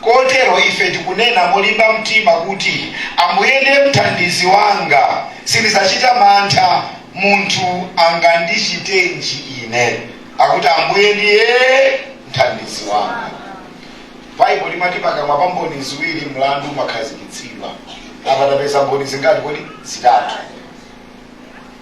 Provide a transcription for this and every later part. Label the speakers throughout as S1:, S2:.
S1: Kotero ife tikunena molimba mtima kuti, Ambuye ndiye mthandizi wanga, sindidzachita mantha, munthu angandichitenji ine? Akuti, Ambuye ndiye mthandizi wanga. Baibulo limati pakamwa pa mboni ziwiri mlandu umakhazikitsidwa. Apa tapeza mboni zingati kodi? Zitatu.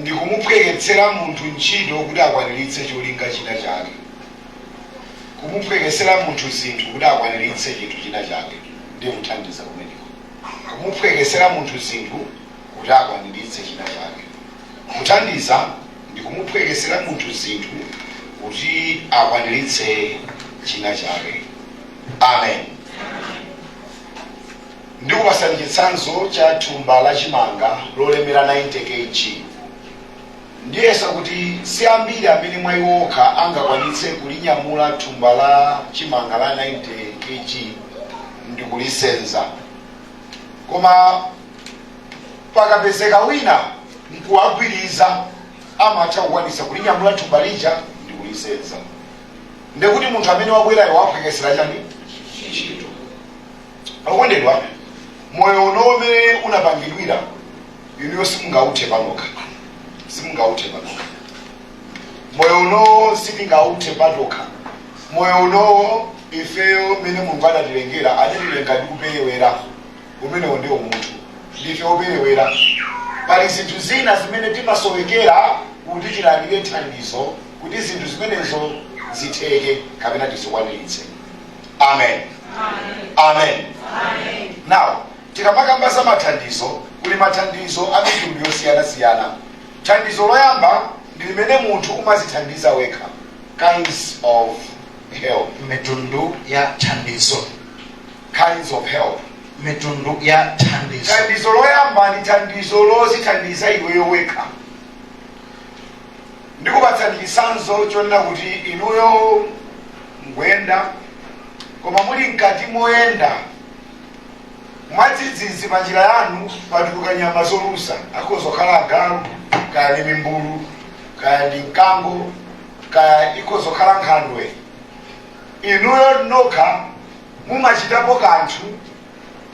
S1: ndi kumuphweketsera munthu ntchito kuti akwaniritse cholinga china chake. Kumuphweketsera munthu zinthu kuti akwaniritse chinthu china chake ndiye kuthandiza kumeneko. Kumuphweketsera munthu zinthu kuti akwaniritse china chake. Kuthandiza ndi kumuphweketsera munthu zinthu kuti akwaniritse china chake. Amen. Ndikupatsani chitsanzo cha thumba la chimanga lolemera 90 kg. Ndiyesa kuti si ambiri amene mwa iwo okha angakwanitse kulinyamula thumba la chimanga la 90 kg ndikulisenza. Koma pakapezeka wina n'kuwagwiriza amatha kukwanitsa kulinyamula thumba lija ndikulisenza. Ndekuti munthu amene wabwerayo waphweketsera chani? Ntchito. Okondedwa, moyo uno umene unapangidwira inuyo simungauthe panokha, simungauthe panokha. Moyo unowo sitingauthe patokha. Moyo unowo ifeyo umene Mulungu adatilengera adatilenga ndi kuperewera, umenewo ndiwo munthu, ndife operewera. Pali zinthu zina zimene timasowekera kuti tilandire thandizo kuti zinthu zimenezo zitheke kapena tizikwaniritse. amen amen now tikamakamba za mathandizo kuli mathandizo a mitundu yosiyanasiyana thandizo loyamba ndi limene munthu umazithandiza wekha kinds of help mitundu ya thandizo kinds of help mitundu ya thandizo thandizo loyamba ndi thandizo lozithandiza iweyo wekha ndikupatsani chitsanzo chonena kuti inuyo mukuyenda koma muli mkati moyenda mwadzidzidzi pa njira yanu patuluka nyama zolusa akhoza kukhala agalu kaya ndi mimbulu kaya ndi mkango kaya ikhoza kukhala nkhandwe inuyo nokha mumachitapo kanthu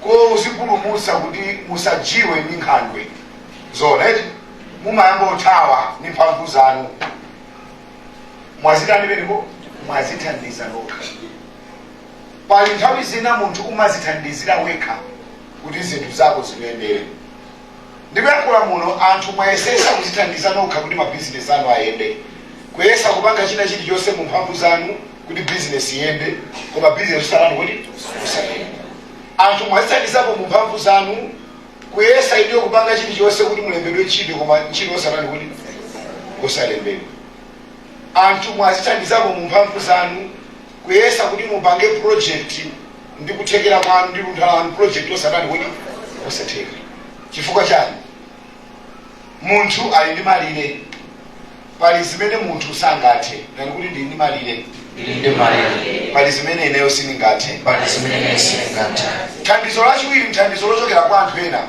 S1: kozipulumutsa kuti musadyiwe ndi nkhandwe zona eti mumayamba kuthawa ndi mphamvu zanu mwazitani pameneko mwazithandiza nokha pali nthawi zina munthu umazithandizira wekha kuti zinthu zako zikuyendere ndikuyankhula muno anthu mwayesesa kuzithandiza nokha kuti mabizinesi anu ayende kuyesa kupanga china chilichonse mu mphamvu zanu kuti business iyende koma business osatani kodi osayenda anthu mwazithandizapo mu mphamvu zanu kuyesa inuyo kupanga chilichonse kuti mulembedwe ntchito koma ntchito osatani kodi osalembedwa anthu mwazithandizapo mu mphamvu zanu kuyesa kuti mupange project ndi kuthekera kwanu ndi luntha lanu project osatani kodi osatheka chifukwa chani munthu ali ndi malire pali zimene munthu sangathe tati ndili ndi malire Ndili ndi malire. pali zimene ineyo sindingathe Pali zimene sindingathe. thandizo lachiwiri ndi thandizo lochokera kwa anthu ena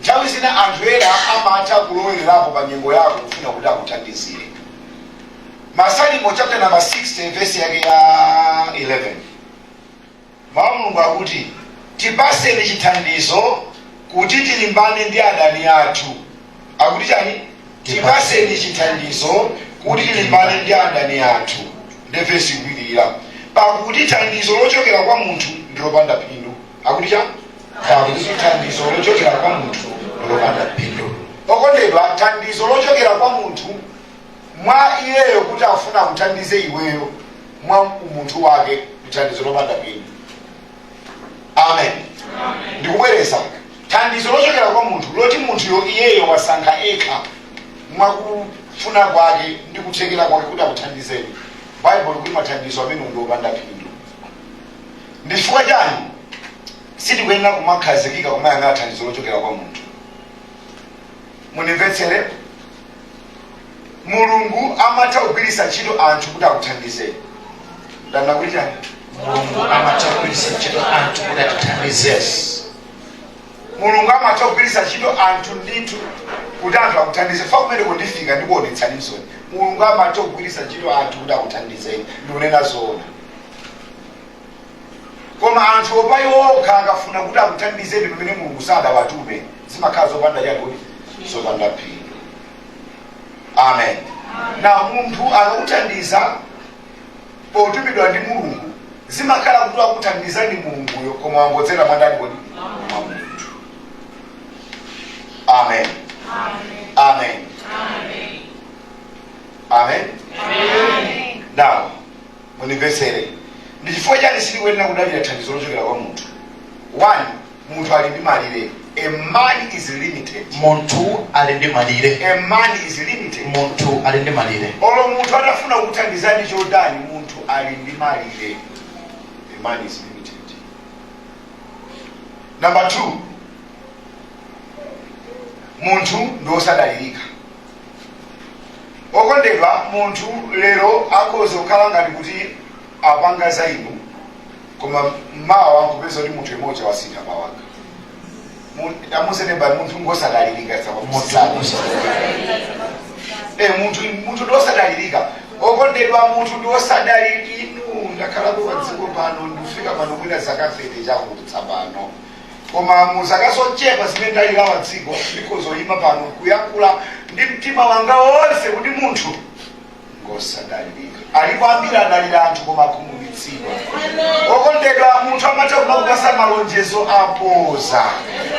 S1: nthawi zina anthu ena amatha kulowererapo pa nyengo yako kufuna kuti akuthandizire masalimo chapter number 60 vesi yake ya 11 Mawu a Mulungu akuti, Tipatseni chithandizo kuti tilimbane ndi adani athu. Akuti chani? Tipatseni chithandizo kuti tilimbane ndi adani athu. Ndiye vesi ikupitirira. Pakuti thandizo lochokera kwa munthu ndi lopanda phindu. Akuti chani? Pakuti thandizo lochokera kwa munthu ndi lopanda phindu. Okondedwa, thandizo lochokera kwa munthu mwa iyeyo kuti afuna akuthandize iweyo mwa umunthu wake ndithandizo lopanda phindu amen ndikubwereza thandizo lochokera kwa munthu loti munthuyo iyeyo wasankha ekha mwakufuna kwake ndi kuthekera kwake kuti akuthandizeni baibulo likuti mathandizo amenewo ndi opanda phindu ndi chifukwa chani sitikuyenera kumakhazikika kumayang'ana thandizo lochokera kwa munthu munimvetsere mulungu amatha kugwiritsa ntchito anthu kuti akuthandizeni ndanena kuti chani mulungu amatha kugwiritsa ntchito anthu kuti akuthandizeni mulungu amatha kugwiritsa ntchito anthu ndithu kuti anthu akuthandize fa kumene kundifika ndikuonetsani msoni mulungu amatha kugwiritsa ntchito anthu kuti akuthandizeni ndikunena zoona koma anthuwo pa iwo okha akafuna kuti akuthandizeni pamene mulungu sadawatume zimakhala zopanda chani kodi zopanda phindu amen na munthu akakuthandiza potumidwa ndi mulungu zimakhala kuti wakuthandiza ndi mulunguyo koma wangodzera mwandani kodi mwa munthu amen amen amen now Mundimvetsere. Ndi chifukwa chiyani sitikuyenera kudalira thandizo lochokera kwa munthu? 1, Munthu ali ndi malire A man is limited. Munthu ali ndi malire. A man is limited. Munthu ali ndi malire. Olo munthu atafuna kukuthandizani chotani, munthu ali ndi malire. A man is limited. Number 2, munthu ndi wosadalirika. okondedwa munthu lero akhoza kukhala ngati kuti apanga zainu koma mawa nkupeza kuti munthu mmodzi wasintha mawanga anzeru amati munthu ngosadalirika sapamusana Eh, munthu munthu ndiosadalirika okondedwa munthu ndiosadalirika inu ndakhalako pa dziko pano ndikufika pano mwina zaka 30 chakutsa pano koma mu zaka zochepa zimene ndalilawa dziko ndikhoza kuyima pano kuyankhula ndi mtima wanga wonse kuti munthu ngosadalirika alipo ambiri adalira anthu koma akhumudwitsidwa okondedwa munthu amatha kumakupatsa malonjezo apoza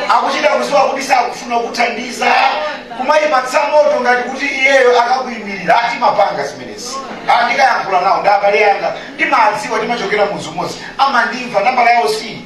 S1: akuchita kudziwa kuti sakufuna kukuthandiza kumakupatsa moto ngati kuti iyeyo akakuyimirira ati musapange zimenezi ndikayankhula nawo ndi abale anga ndimawadziwa timachokera mudzi umodzi amandimva nambala yawo si iyi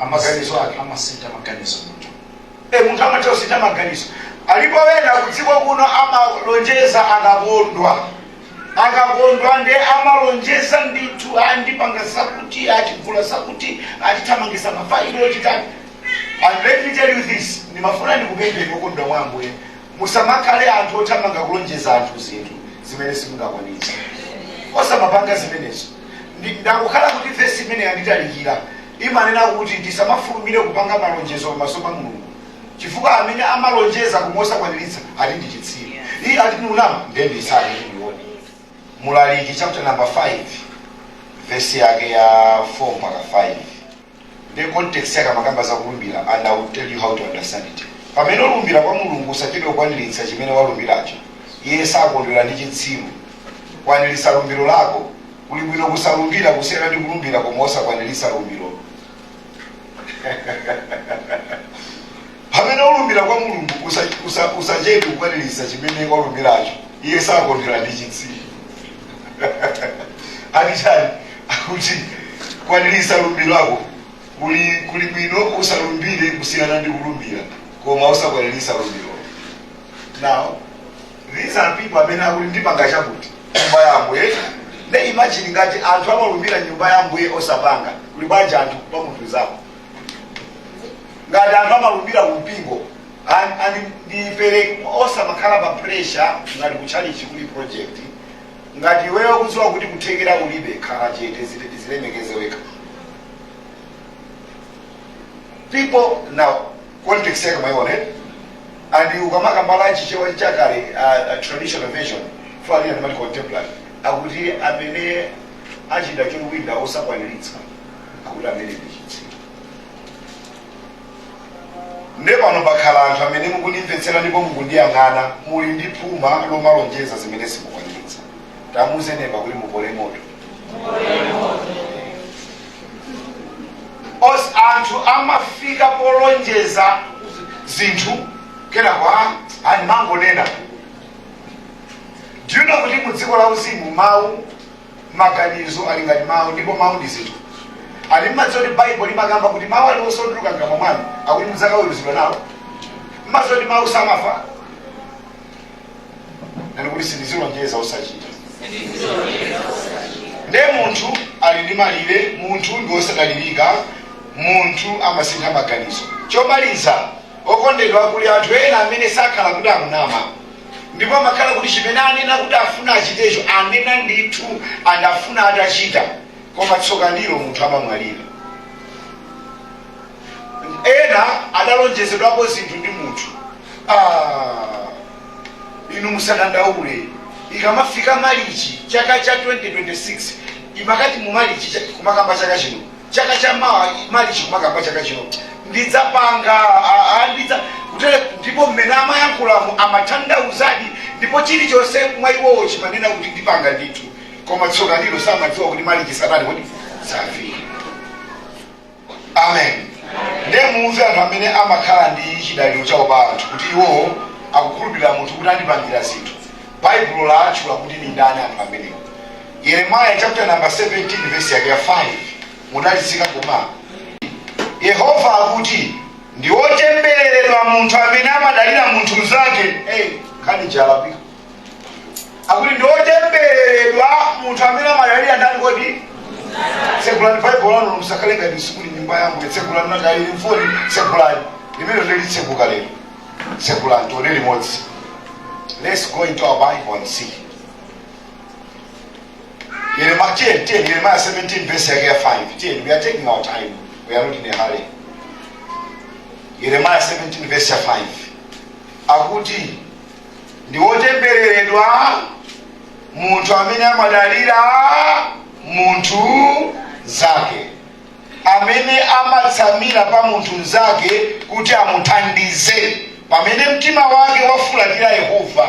S1: amaganiza ati amasintha maganizo munthu e munthu amatha kusintha maganizo alipo wena kudziko kuno amalonjeza akakondwa akakondwa nde amalonjeza ndithu ati ndipanga zakuti ati tigula zakuti ati tithamangitsa mafailo chani and let me tell you this ndimafuna ndikupempheni okondedwa mwa ambuye musamakhale anthu othamanga kulonjeza anthu zinthu zimene simungakwanitse osamapanga zimenezo Ndi, ndakhala kuti vesi imene yanditalikira imanena kuti tisamafulumire kupanga malonjezo pamaso pa Mulungu chifukwa amene amalonjeza koma osakwaniritsa ati ndi chitsiru. Iye ati ndi unama ndiye ndi isake kuti ndione. Mulaliki chapter number 5 vesi yake ya 4 mpaka 5. Nde context yake amakamba za kulumbira and i will tell you how to understand it. Pamene ulumbira kwa Mulungu usachedwe kukwaniritsa chimene walumbiracho. Iye sakondwera ndi chitsiru. Kwaniritsa lumbiro lako. Kuli bwino kusalumbira kusiyana ndi kulumbira koma osakwaniritsa lumbirolo. Pamene ulumbira kwa Mulungu, usa, usa, usachedwe kukwaniritsa chimene walumbiracho. Iye sakondwera ndi chitsiru. Ati chani? Akuti kwaniritsa lumbiro lako. Kuli kuli bwino kusalumbira kusiyana ndi kulumbira koma osakwaniritsa lumbiro. Now, these are people amene akuti ndipanga chakuti mnyumba ya Ambuye. Nde imagine ngati anthu amalumbira mnyumba ya Ambuye osapanga. Kuli bwanji anthu pa munthu nzako. ngati anthu amalumbira ku mpingo and- and ndipemphe osamakhala pa pressure ngati kutchalichi kuli project ngati iweyo ukudziwa kuti kuthekera ulibe khala chete dzile- dzilemekeze wekha people now context yake mwaiona eh? and ukamakamba za Chichewa chakale uh, uh, traditional version falina ndimati contemporary akuti amene achita chowinda osakwaniritsa akuti amene ndi chitsiru nde pano pakhala anthu amene mukundimvetsera ndipo mukundiyang'ana muli ndi phuma lomalonjeza zimene simukwaniritsa tamuuze neba kuti mupole moto os anthu amafika polonjeza zinthu kenako amangonena do you know kuti mu dziko la uzimu mawu Maganizo ali ngati mau, ndipo mau ndi zinthu. Ali mumadziwa kuti Baibulo limakamba kuti mau aliwonse otuluka mkamwa mwanu akuti mudzakaweruzidwa nawo? Mumadziwa kuti mau samafa? Nani kuti sindizilonjeza osachita. Nde munthu ali ndi malire, munthu ndi wosadalirika, munthu amasintha maganizo. Chomaliza, okondedwa kuli anthu ena amene sakhala kuti akunama. ndipo amakhala kuti chimene anena kuti afuna achitecho anena ndithu and afuna atachita koma tsoka ndilo munthu amamwalira ena adalonjezedwako zinthu ndi munthu Ah, inu musadandaule ikamafika malichi chaka cha 2026 imakati mu malichi cha- kumakamba chaka chino chaka cha mawa malichi kumakamba chaka chino ndidzapanga a- a- ndidza kutere ndipo mmene amayankhulamu amathandauzadi ndipo chilichonse mwa iwowo chimanena kuti ndipanga ndithu koma tsoka ndilo samadziwa kuti malichi sanali kuti safika amen ndiye muuze anthu amene amakhala ndi chidaliro chawo pa anthu kuti iwowo akukhulupirira munthu kuti andipangira zinthu baibulo latchula kuti ndi ndani anthu amenewo Yeremiah chapter number 17 verse yake ya 5 mudalitsike koma Yehova akuti ndi wotembereredwa munthu amene amadalira munthu mnzake hey, kani jalapika akuti ndi wotembereredwa munthu amene amadalira ndani kodi tsekulani baibulo lanu musakhale ngati musukulu nyumba yangu tsekulani ngakhale m'foni tsekulani limene lili tsekuka lero tsekulani tione limodzi let's go into our bible and see Yeremiah, tiye, tiye, Yeremiah 17 verse yake ya 5. Tiye, we are taking our time. We are not in a hurry. Yeremiah 17 verse ya 5. Akuti ndi wotembereredwa munthu amene amadalira munthu mnzake amene amatsamira pa munthu mnzake kuti amuthandize pamene mtima wake wafulatira yehova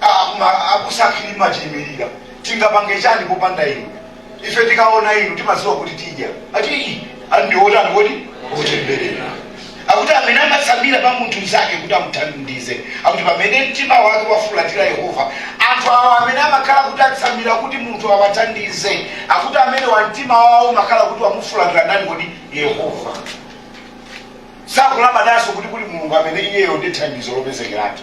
S1: Koma abusa a Chilima chilimirika tingapange chani popanda inu? Ife tikaona inu timadziwa kuti tidya. Ati ii ali ndi otani kodi otembereredwa. Akuti amene amatsamira pa munthu mzake kuti amuthandize. Akuti pamene mtima wake wafulatira Yehova, anthu awa amene amakhala kuti atsamira kuti munthu awathandize. Akuti amene wa mtima wawo umakhala kuti wamufulatira ndani kodi Yehova. Sakulabadanso kuti kuli Mulungu amene iyeyo ndi thandizo lopezekeratu.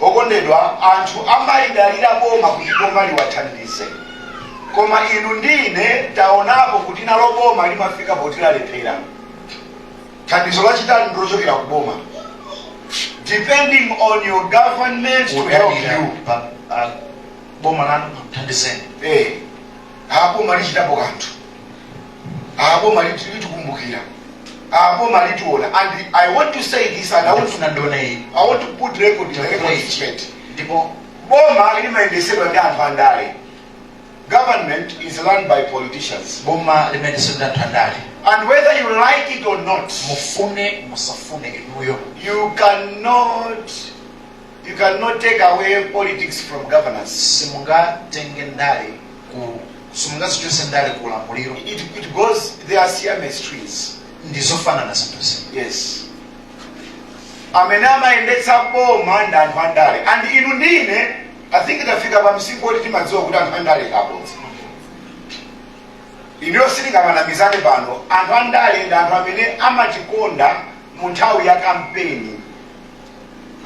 S1: okondedwa anthu amalidalira boma kuti boma liwathandize koma inu ndi ine taonapo kuti nalo boma limafika poti lalephera thandizo lachitatu ndilochokera ku boma depending on your government to help you kudalira pa- pa boma lanu kuthandizeni eh boma lichitapo kanthu boma liti- litikumbukira boma litiona and i want to say this and I want to, Ndifuna ndinene izi. I want to put record, the record straight Palibe boma limayendesedwa ndi anthu andale government is run by politicians boma limayendetsedwa ndi andale. and whether you like it or not Mufune musafune inuyo. you cannot You can not take away politics from governance. Simungatenge ndale ku simungazichotse ndale ku ulamuliro. It, it goes they are Siamese twins. Ndizofanana zinthuzi. Yes. amene amayendetsa boma ndi anthu andale and inu ndine i think tafika pa msinkhu woti timadziwa kuti anthu andale ndi abodza inuyo sitingamanamizane pano anthu andale ndi anthu amene amatikonda mu nthawi ya kampeni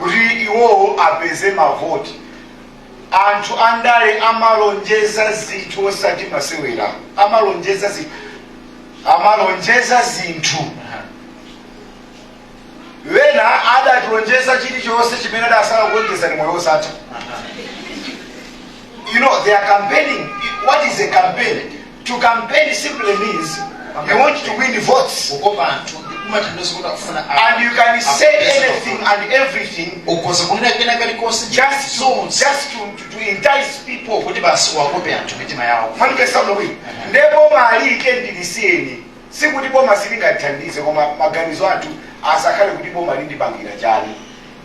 S1: kuti iwowo apeze mavoti anthu andale amalonjeza zinthu osati masewera amalonjeza zinthu amalonjeza zinthu wena adalonjeza chilichonse chimene adasala kulonjeza ndi moyo osatha you know they are campaigning what is a campaign To campaign simply means you want to win votes. Kukopa anthu kumatanthauza kuti akufuna And you can say anything and everything ukhoza kunena kena kalikonse just to, just to, to, to entice people. kuti basi wakope anthu mitima yawo Mwandipeza, olo. Nde bomali ndilisiyeni. Sikuti boma silingathandize koma maganizo athu asakhale kuti boma lindipangira chani.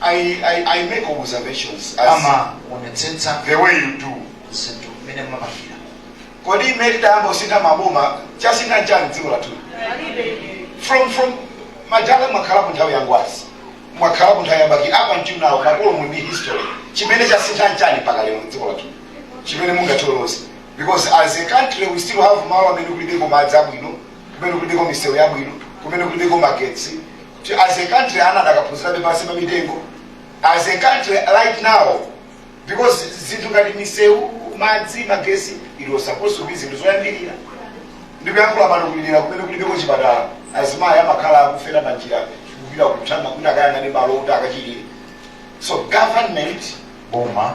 S1: I, I, I make observations as amaonetsetsa the way you do. zinthu mmene mumapangira Kodi mmene tidayamba kusintha maboma chasintha nchani dziko lathu? From from madala mwakhalapo nthawi ya Ngwazi mwakhalapo nthawi ya Bakili ya atcheya makolo mu ndi history chimene chasintha nchani mpaka lero dziko lathu chimene mungatiloze because as a country we still have malo amene kulibeko madzi abwino kumene kulibeko misewu yabwino kumene kulibeko magetsi kuti as a country ana adakaphunzirabe pansi pa mitengo as a country right now because zinthu ngati misewu madzi magesi it was supposed to be zinthu zoyambirira ndikuyankhula pano kuli dera kumene kulibeko chipatala azimayi amakhala akufera panjira kupita kuthanga kuti akayang'ane malo kuti akachilire so government boma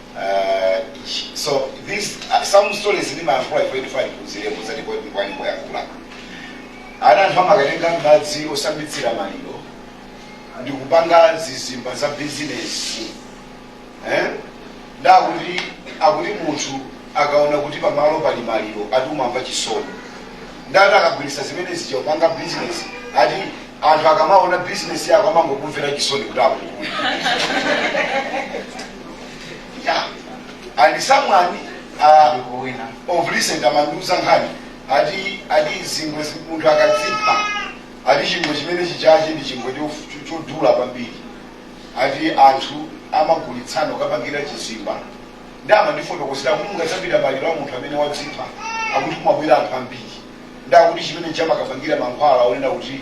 S1: Uh, sh- so this uh, some stories ndimayankhula ife ndifuna ndiphunzire muzati kwa kwa nyimbo yakula ana anthu amakatenga madzi osambitsira maliro ndi kupanga zizimba za bizinesi eh? nde akuti akuti munthu akaona kuti pamalo pali maliro ati umamva chisoni nde ati ukagwiritsa zimene zija kupanga bizinesi ati anthu akamaona bizinesi yako amangokumvera chisoni kuti akugula yeah. and someone uh, ndi wina of recent amandiuza nkhani ati ati zingwe zi- munthu akadzipha ati chingwe chimene chijachi ndi chingwe cho- cho- chodula kwambiri ati anthu amagulitsana ukapangira chizimba nde amandifotokozera kuti mungadzapita maliro a munthu amene wadzipha akuti kumabwera anthu ambiri nde akuti chimene chamakapangira mankhwala onena kuti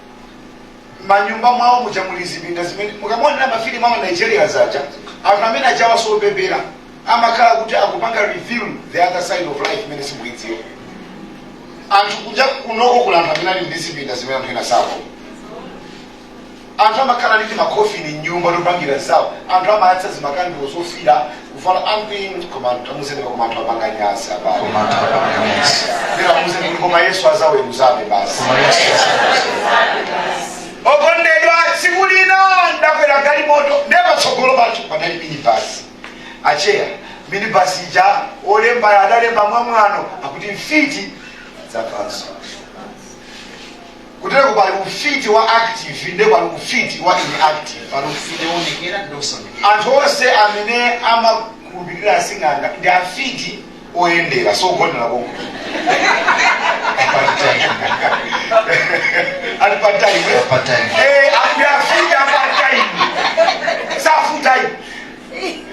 S1: manyumba mwawo muja muli zipinda zimene mukamaonera mafilimu a ma nigeria zaja anthu amene ajawa sopepera amakhala kuti akupanga reveal the other side of life imene simuidziwa anthu kunja kunoko kuli anthu amene ali ndi zipinda zimene anthu ena sako anthu amakhala ndi timakofini mnyumba topangira zawo anthu amayatsa zimakandulo zofira Kuvala ambiri koma anthu amuzeni koma anthu apanga nyasi abale. Koma anthu apanga nyasi. Nde amuzeni kuti koma Yesu azaweruzabe basi. Koma Yesu azaweruzabe basi. Okondedwa tsiku lina ndakwera galimoto nde patsogolo pajo panali minibasi. Acheya minibasi ija olemba adalemba mwamwano akuti mfiti zapanso. kutereku pali ufiti wa active nde pali ufiti wa inactive pali ufiti woonekera ndi osaonekera anthu onse amene amakhulupirira asing'anga ndi afiti oyendera osagonera konko ali pataimu Pataimu. akuti afiti apataimu safutayi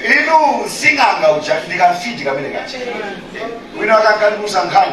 S1: inu sing'anga uja ndikafiti kamene kaja wina akankandiuza nkhani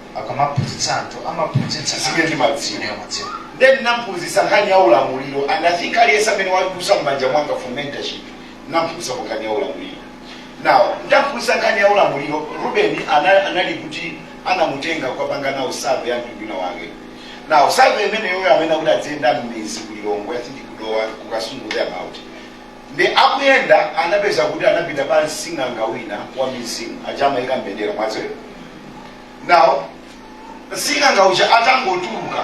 S1: akamaphunzitsa anthu amaphunzitsa Zimene anthu ndimadziwa. zimene amadziwa Ndiye ndinamphunzitsa nkhani ya ulamuliro and I think aliyense amene wadusa m'manja mwanga for mentorship ndinamphunzitsako nkhani ya ulamuliro. Now, ndamphunzitsa nkhani ya ulamuliro Ruben ana- anali kuti anamutenga kukapanga nawo survey ya mtundu wina wake. Now, survey imeneyo amanena kuti adziyenda m'midzi ku Lilongwe, I think ku Dowa ku Kasungu thereabout. Nde akuyenda anapeza kuti anapita kwa sing'anga wina wa mizimu, aja amayika mbendera mwadziwa. Now sing'anga uja atangotuluka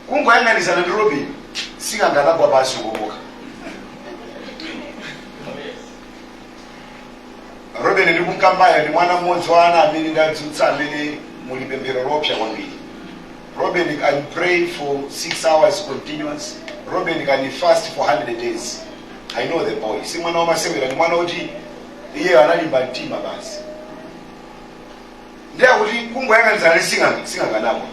S1: kungoyang'anizana ndi Robin, sing'anga anagwa pansi kukomoka. Robin ndikumkambayo ndi mwana mmodzi wa ana amene ndadzutsa amene muli pemphero loopsa kwambiri. Robin can pray for 6 hours continuous. Robin can fast for 100 days. I know the boy. Si mwana wamasewera ndi mwana woti iye analimba mtima basi. Ndiye kuti kungoyang'anizana ndi sing'anga sing'anganapo.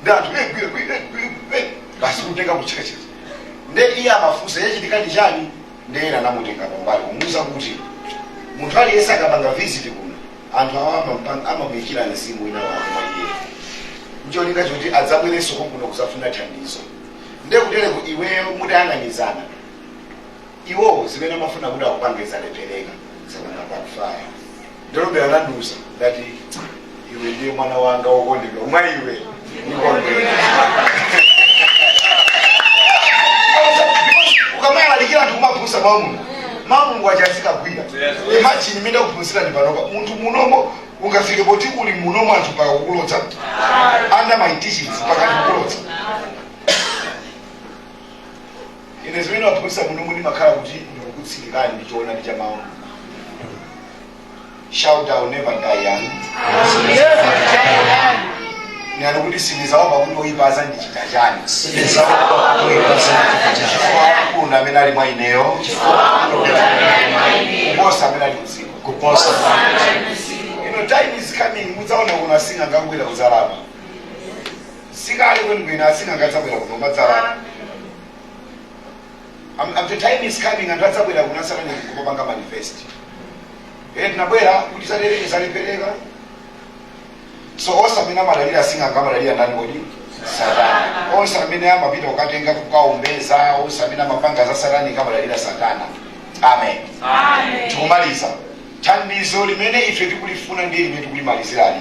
S1: Ndiye anthu eh, gwe, gwe, eh, gwe, gwe. basi kutenga kuchekecheza. Ndiye iye amafunsa chachitika ndi chani? Ndiye ena anamutenga pambali kumuuza kuti munthu aliyense akapanga visit kuno Anthu awa amampang amamuikira mzimu wina wake mwa iyeyo ncholinga choti adzabwerenso konkuno kuzafuna thandizo nde kutereku iweyo mutayang'anizana iwowo zimene amafuna kuti akupange zalephereka zapanga backfire ndiye Robin atandiuza ndati iwe ndiye mwana wanga wokondedwa mwa iwe ukamalalikira anthu kuwaphunzitsa mawu a mulungu mawu a mulungu aja azikagwira imagine mmene ndikuphunzitsirani panopa munthu munomo ungafike poti uli munomo anthu mpaka kukulodza under my teachings mpaka kukulodza ine zimene ndimaphunzitsa munomo ndimakhala kuti ndikukutsirikani ndi choonadi cha mawu a mulungu shout I'll never die young ndipo kuti sindizaopa kuti oyipa azandichita chani koma amene ali mwa ineyo kuposa amene ali m'dziko lino time is coming mudzaona kuno asing'anga akubwera kudzalapa sikale kwenikweni asing'anga adzabwera kuno kumadzalapa Am, am, the time is coming anthu adzabwera kuno a satanic kumapanga manifest eh tinabwera kuti zatereke zalephereka so onse amene amadalira sing'anga amadalira ndani kodi satana onse amene amapita kukatenga kukaombeza onse amene amapanga za satanic amadalira satana amen tikumaliza thandizo limene ife tikulifuna ndi limene tikulimalizirali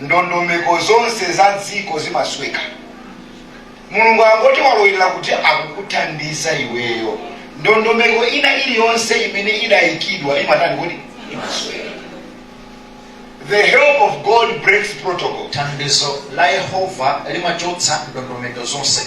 S1: ndondomeko zonse za dziko zimasweka mulungu akati walowerera kuti akukuthandiza iweyo ndondomeko ina iliyonse imene idayikidwa imatani kodi imasweka the help of god breaks protocol thandizo la yehova limachotsa ndondomeko zonse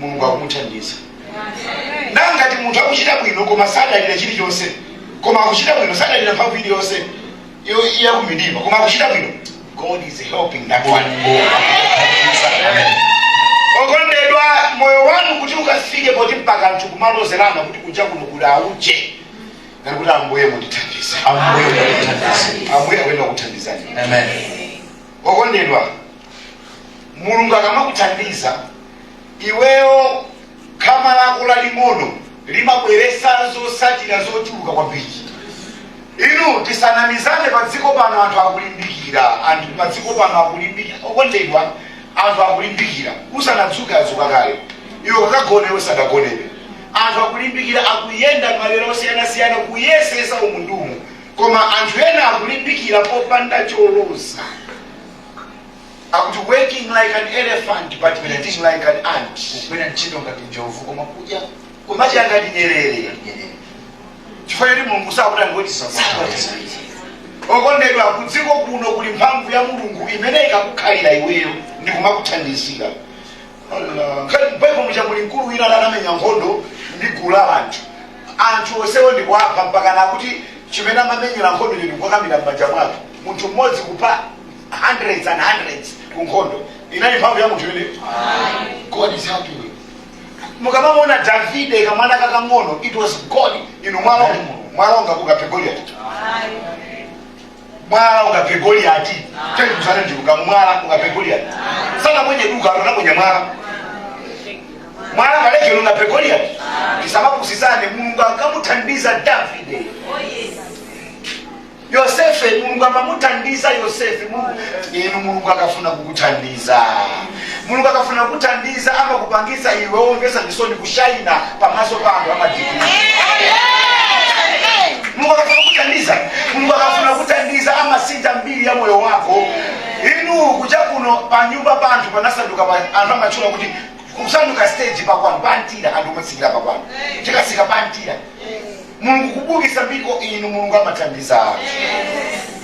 S1: mulungu akumuthandiza na ngati munthu akuchita bwino koma sadalira chilichonse koma akuchita bwino sadalira mphamvu iliyonse iyo- iya kumidima koma akuchita bwino god is helping that one okondedwa moyo wanu kuti ukafike poti mpaka anthu kumalozerana kuti kunja kuno kuli auje ngati kuti ambuye mundithandize ambuye akuthandiza ambuye akuyenda kuthandizani amen okondedwa mulungu akamakuthandiza iweyo khama lako laling'ono limabweresa zotsatira zochuluka kwambiri inu tisanamizane pa dziko pano anthu akulimbikira anthu pa dziko pano akulimbikira okondedwa anthu akulimbikira usanadzuke adzuka kale iwe ukagona iwe sanagonebe anthu akulimbikira akuyenda malo osiyanasiyana kuyesesa umu ndi umu koma anthu ena akulimbikira popanda choloza akuti working like an elephant but eating like an ant kugwira ntchito ngati njovu koma kudya kumadya ngati nyerere nyerere chifukwa choti mulungu sakutithandiza okondedwa kudziko kuno kuli mphamvu ya mulungu imene ikakukhalira iweyo ndi kumakuthandizira Nkhani- baibulo muja muli mkulu wina amene anamenya nkhondo ndi gulu la anthu anthu onsewo ndikuwapha mpaka akuti chimene amamenyera nkhondo ndikukakamira m'manja mwake munthu mmodzi kupha hundreds and hundreds ku nkhondo inali mphamvu ya munthu imeneyo god is helping you mukamamona davide kamwana kakang'ono it was god inu mwala unga mwala ungakaphe goliati mwala ukaphe goliyati chaituzana ndiluka mwala ukaphe goliyati sanaponye luka anaponya mwala mwala kaleke kanapha goliyati tisamapusitsane mulungu ankamuthandiza davide yosefe mulungu amamuthandiza yosefe Mulungu- inu mulungu akafuna kukuthandiza Mulungu akafuna kukuthandiza amakupangitsa iwe womvetsa chisoni kushaina pamaso pa anthu amadigiri mulungu akafuna kukuthandiza mulungu akafuna kukuthandiza amasintha mbiri ya moyo wako inu kunja kuno panyumba pa anthu panasanduka pa- anthu amatchula kuti kusanduka stage pakwanu pantira anthu omutsikira pakwanu tikasika pantira mulungu kubukisa mbiri o inu mulungu amathandiza anthu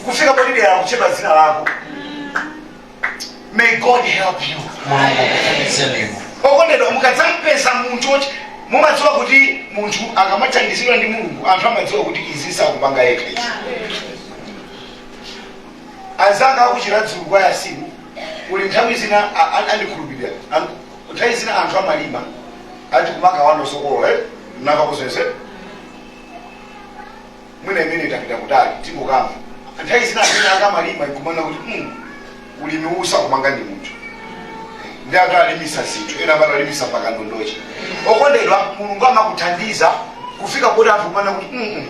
S1: kufika potidera kutchedwa dzina lako may god help you mulungu akuthandizeni inu okondedwa mukadzampeza munthu oti mumadziwa kuti munthu akamathandizidwa ndi mulungu anthu amadziwa kuti izi sakupanga yekha izi anzanga akuchira dzulu kwa yasimu uli nthawi zina a- a- andikhulupirira An- nthawi zina anthu amalima ati kumakaba ndosokolola eh? nava kuzeze mwina imene itapita kutali tinkangomva nthawi zina anthu ena akamalima nkumanena kuti mm, ulimi uwu sakupanga ndi munthu ndi anthu alimisa zinthu ena amati alimisa mpaka ndondochi okondedwa mulungu amakuthandiza kufika kuti anthu kumanena kuti mm, mm,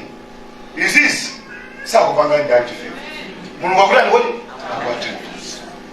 S1: izizi sakupanga ndi anthu iwowa mulungu akutani kodi akuwathandiza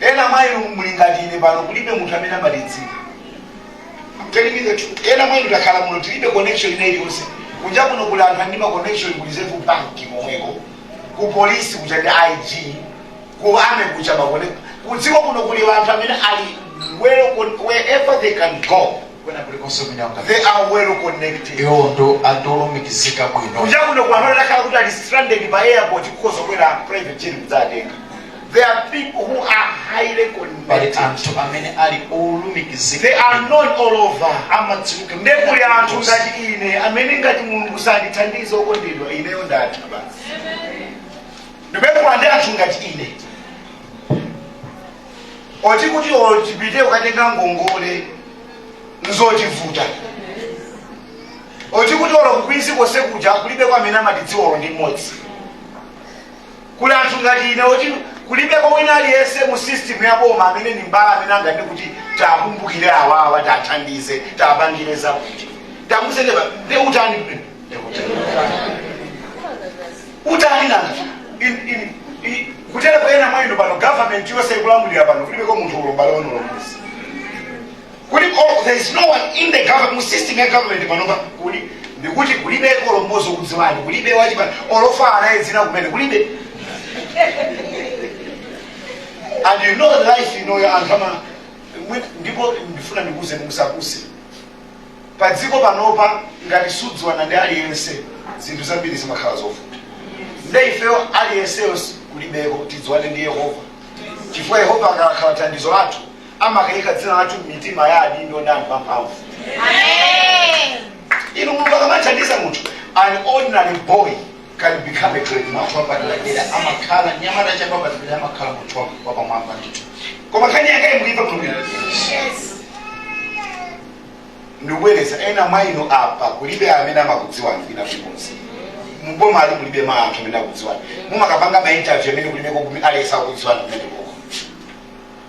S1: Ena mwa inu muli ngati ine pano, kulibe munthu amene amatidziwa. I'm telling you the truth. Ena mwa inu takhala muno tilibe connection ina iliyonse. Kunja kuno kuli anthu a ndi ma connection ku Reserve Bank komweko. Ku police kuja ndi IG. Ku army kuja makone. Kudziko kuno kuli anthu amene ali well con- wherever they can go. kwina kulikonse kumene anga They are well connected. iwo ndi anthu olumikizika bwino Kunja kuno kuli anthu amene akhala kuti ali stranded pa airport kukhoza kubwera private jet kudzawatenga. There are people who are highly pali connected. anthu amene ali They olumikizika are known all over. amadziwika. Nde kuli anthu konse. ngati ine amene ngati mulungu sandithandiza okondedwa ineyo ndatha basi ndipekula ndi anthu ngati ine oti kuti otipite ukatenga ngongole nzotivuta oti kuti olo kukwinzi konse kuja kulibe amene amatidziwa olo ndi mmodzi kuli anthu ngati ine oti kulibeko wina aliyense mu system ya boma amene ndi m'bale amene anganene kuti tiwakumbukire awawa tiwathandize tiwapangire zakuti tamuzeneva ne utani kumene Ne utani. utani nanga In- in- i- kuteroko ena mwa inu pano government yonse ikulamulira pano kulibeko munthu olo m'bale wanu olo mmodzi kuli oh, there is no one in the government mu system ya government panopa kuli ndikuti kulibe olo mmodzi okudziwani kulibe wachipani olofa anaye dzina kumene kulibe and you know life inoyo anthu ama mwi- ndipo ndifuna ndikuuzeni musakutse pa dziko panopa ngati sudziwana ndi aliyense zinthu zambiri zimakhala zovuta nde ifeyo aliyenseyo kulibeko tidziwane ndi yehova chifukwa yehova akakhala thandizo lathu amakaika dzina lathu m'mitima ya adindo ndi anthu amphamvu inu mulungu akamathandiza munthu an ordinary boy can become a great man wapadera amakhala mnyamata wapadera amakhala munthu wa- wapamwamba ndithu koma nkhani yake muyimve bwinobwino ndikubwereza ena mwa inu apa kulibe amene amakudziwani kwina kulikonse muboma ali kulibe ma anthu amene akudziwani mukamapanga ma interview amene kulibe kokume alesa akudziwani kumene koko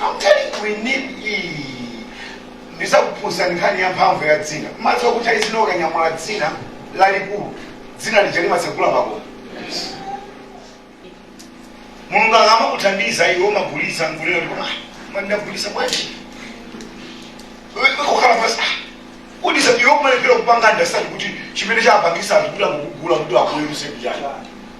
S1: I'm telling you, we need iyi. Ndizakuphunzitsani nkhani ya mphamvu ya dzina. Madziwa kuti ali zina ukanyamula dzina lalikulu. Dzina lija limatsegula makomo. Mulungu akamakuthandiza iwe umagulitsa nkulira kuti koma koma ndagulitsa bwanji? Iwe kukhala pansi. Udisa iwe kumalephera kupanga understand kuti chimene chapangisa azikula kukugula kuti akuweruze kujani.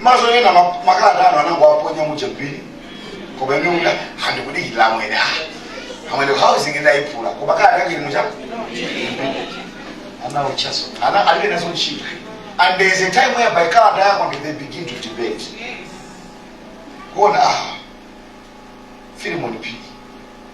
S1: maso ena ma- makalata anu anangowaponya muja m'bini koma ine una ndikudikirira amwene ah amwene housing ndayiphula koma kalata yake ili muchako ana uchaso ana alibe nazo ntchito and there is a time where by kalata yako ndiyo they begin to debate kuona ah Filimoni Phiri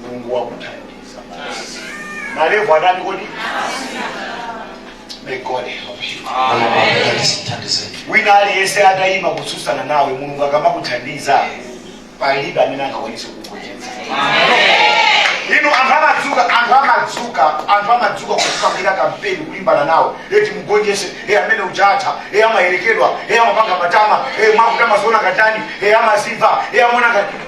S1: mulungu wakuthandiza basi malevu adani kodi may god help you Thandizeni. wina aliyense atayima kutsutsana nawe mulungu akamakuthandiza palibe amene angakwanise kukuchenza inu anthu amadzuka anthu amadzuka anthu amadzuka kukupangira kampeni kulimbana nawe e timugonjese e amene ujatu e amayerekedwa e amapanga matama e mwakuta amaziona ngati ndani e amaziva e amaona ngati ndani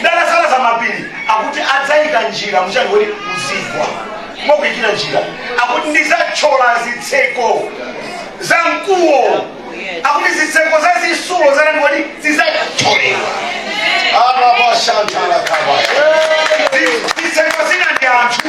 S1: ndizasalaza mapiri akuti adzayika njira mu chani kuti muzigwa akuyikira njira akuti ndizathyola zitseko za mkuwa akuti zitseko za zisulo zanani kuti zizathyoledwa arabashantalakaba zitseko zina ndi anthu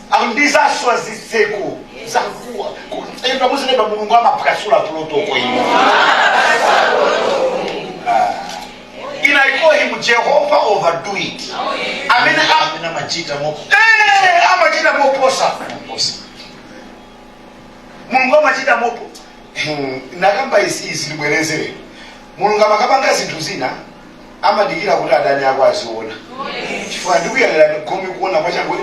S1: ndizaswa zitseko za mkuwa kutemba muzilemba mulungu amaphwasula protocol ino in i call him jehova overdo it amene a- amene amachita mo Eh, amachita moposa mulungu amachita mopo ndakamba izi izi ndibwerezere mulungu akamapanga zinthu zina amadikira kuti adani ako aziona chifukwa ndikuyang'anani gome kuona kwachakwe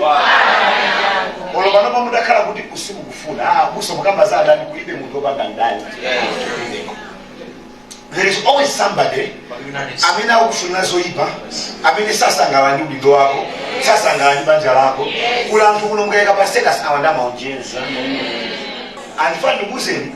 S1: olo panopa mutakhala kuti simukufuna ah, busa mukamba za adani kulibe munthu opanda mdani there is always somebody amene akufunira zoyipa amene sasangalala ndi udindo wako sasangalala ndi banja lako kuli anthu kuno mukayika pa status awa nde amaonjeza ndifuna ndikuuzeni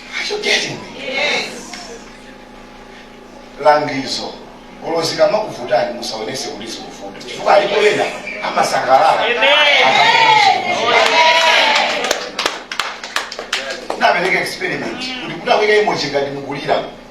S1: Are you getting me? langizo olo zikamakuvutani musaonese kuti zikuvuta chifukwa alipo ena amasangalala ndapereka experiment kuti kuti akuyika emoji ngati mukulira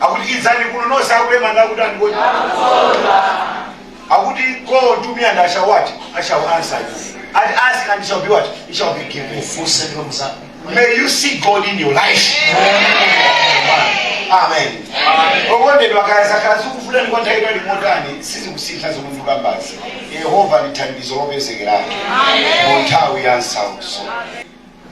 S1: akuti idzani kuno nonse akulema ndi akutani kodi akuti call to me and I shall what I shall answer you and ask and it shall be what it shall be given ufunse ndipo mudzapatsidwa may you see God in your life amen okondedwa kaya zakhala zikuvutani kwa nthawi yaitali motani sizikusintha zomwe ndikukambazi yehova ndi thandizo lopezekeratu mu nthawi ya nsautso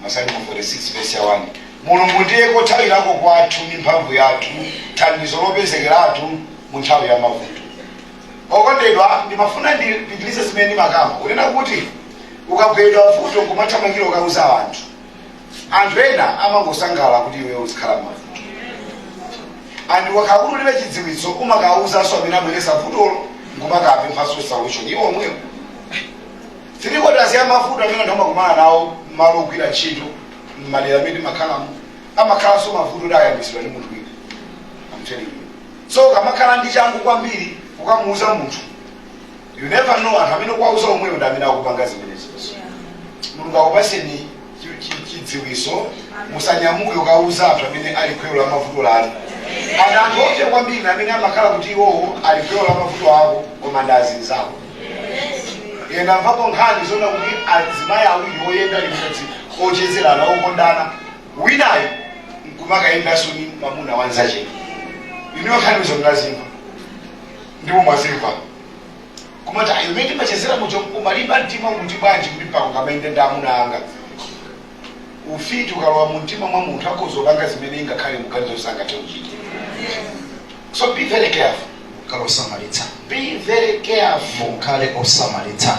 S1: Masalimo 46 vesi ya 1 Mulungu ndiye kothawirako kwathu ndi mphamvu yathu, thandizo lopezekeratu mu nthawi ya mavuto. Okondedwa, ndimafuna ndipitirize zimene ndimakamba kunena kuti ukabweredwa vuto nkumathamangira kukauza anthu, anthu ena amangosangalala kuti iweyo uzikhala m'mavuto. And ukakhala kuti ulibe chidziwitso umakauzanso amene abweretsa vutolo nkumakapemphanso solution iwo omwewo. Three quarters ya mavuto amene anthu amakumana nawo m'malo ogwira ntchito m'madera amene timakhalamo amakhalanso mavuto oti ayambitsidwa ndi munthu wina. I'm telling you. So ukamakhala ndi changu kwambiri kukamuuza munthu. You never know anthu amene ukuwauza omwewo ndi amene akupanga zimenezo. Mulungu akupatseni chidziwitso, musanyamuke kukawuza anthu amene ali gwero la mavuto anu. And anthu oopsa kwambiri ndi amene amakhala kuti iwowo ali gwero la mavuto ako koma ndi azinzako. Ine ndamvapo nkhani zoona kuti azimayi awiri oyenda limodzi ochezerana okondana winayo nkumakayendanso ndi mwamuna wanzache. Inuyo nkhanizo mnazimva ndipo mwazimva. kumati ayi umene timachezera muja umalimba mtima mu mtima bwanji kuti mpaka ukamayenda ndi amuna anga ufiti ukalowa mu mtima mwa munthu akhoza kupanga zimene ingakhale mukuganiza sangathe kuchita so be very careful khalani osamalitsa be very careful mukhale osamalitsa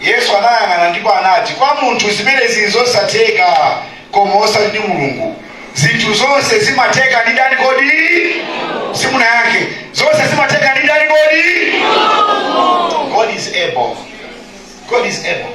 S1: Yesu anayang'ana ndipo anati, Kwa munthu zimenezi nzosatheka, koma osati ndi Mulungu. Zinthu zonse zimatheka ndi ndani kodi? Simunayankhe. Zonse zimatheka ndi ndani kodi? God is able. God is able.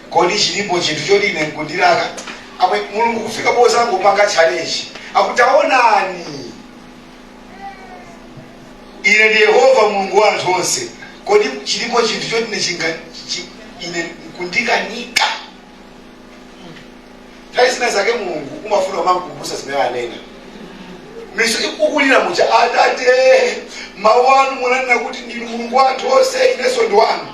S1: Kodi chilipo chinthu choti ine nkundilaka? Amwe, Mulungu kufika pozangopanga challenge. Akuti taonani, ine ndine Yehova Mulungu wa anthu onse. Kodi chilipo chinthu choti ine chinga chi, ine nkundikanika? nthawi zina zake mulungu amafuna umamukumbutsa zimene anena misozi ukulira muja atate mawu anu munanena kuti ndinu mulungu wa anthu onse inenso ndi wanu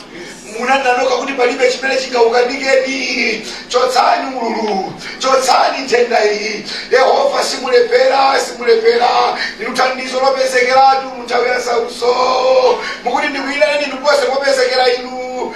S1: munanena nokha kuti palibe chimene chingakukanikeni chotsani ululuwu chotsani nthenda iyi yehova simulephera simulephera ndinu thandizo lopezekeratu munthawi ya nsautso mukuti ndikuyitaneni ndipo opezekeratu inu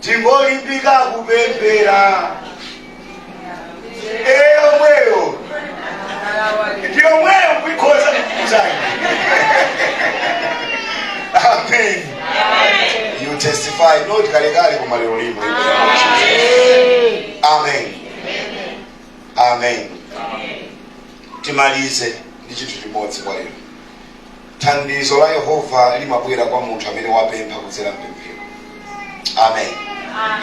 S1: tingolimbika kupemphera yomweyo ndi yomweyo kuikhoza kukuzayi amen you testify not kalekale koma lero lino amen amen timalize ndi chinthu chimodzi kwa lero Thandizo la Yehova limabwera kwa munthu amene wapempha kudzera mpemphero. Amen.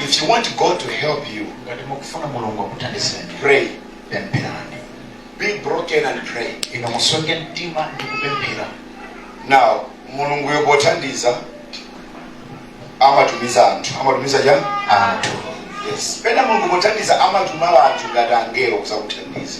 S1: If you want God to help you, ngati mukufuna mulungu akuthandizeni pray, pempherani be broken and pray. inu musweke mtima ndi kupemphera Now, mulunguyo pothandiza amatumiza anthu amatumiza chani anthu yes pena mulungu pothandiza amatuma anthu ngati angelo kuzakuthandiza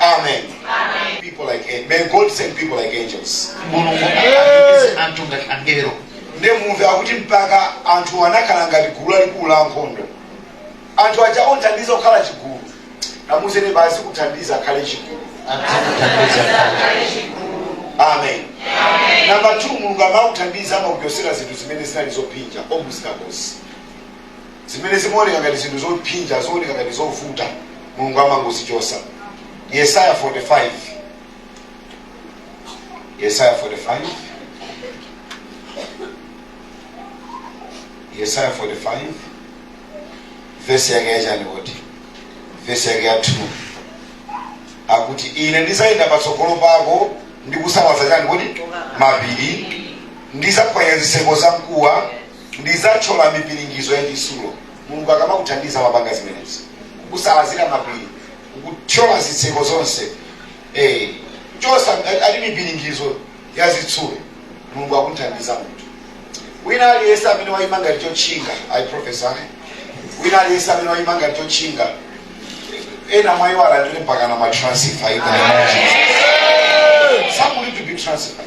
S1: Amen. Amen. People like angels. May God send people like angels. mulungu atumize anthu ngati angelo Nde mumve akuti mpaka anthu anakhala ngati gulu lalikulu la nkhondo. Anthu aja othandiza kukhala chigulu. Amuzeni basi kuthandiza akhale chigulu. adzakuthandiza Amen. Namba 2 Mulungu akamakuthandiza amakuchotsera zinthu zimene zinali zopinja muuze mnzakoyo. zimene zimaoneka ngati zinthu zophinja zooneka ngati zovuta mulungu amangozichotsa yesaya 45 yesaya 45 yesaya 45 vesi yake yachani kuti vesi yake ya 2 akuti ine ndizayenda patsogolo pako ndi kusalaza chani kuti mapiri ndizaphwanya ziseko za mkuwa Ndidzathyola mipiringizo ya chitsulo. Mulungu akamakuthandiza amapanga zimenezi, kukusalazira mapiri, kukuthyolera zitseko zonse. Eh, chotsa ali mipiringizo ya zitsulo. Mulungu akamakuthandiza munthu wina aliyense amene wayima ngati chotchinga. I prophesy wina aliyense amene wayima ngati chotchinga, ena mwa iwo alandire mpaka na matransfer ina. Some will be transferred.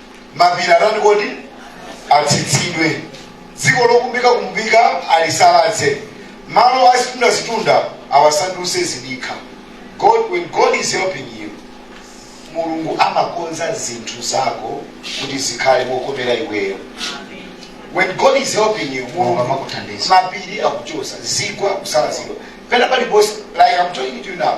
S1: mapiri atani kodi atsitsidwe dziko lokumbika kumbika alisalaze malo a zitunda zitunda awasanduse zidikha god when god is helping you mulungu amakonza zinthu zako kuti zikhale mokomera iweyo when god is helping you mulungu akamakuthandiza mapiri akuchotsa zigwa kusalazidwa pena paliponse like i'm talking to you now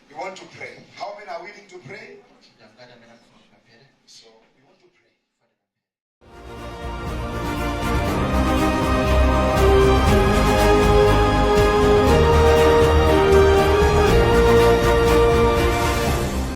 S1: You want to pray. How many are willing to pray? Ndi angati amene akufuna kuti apemphere? So we want to pray.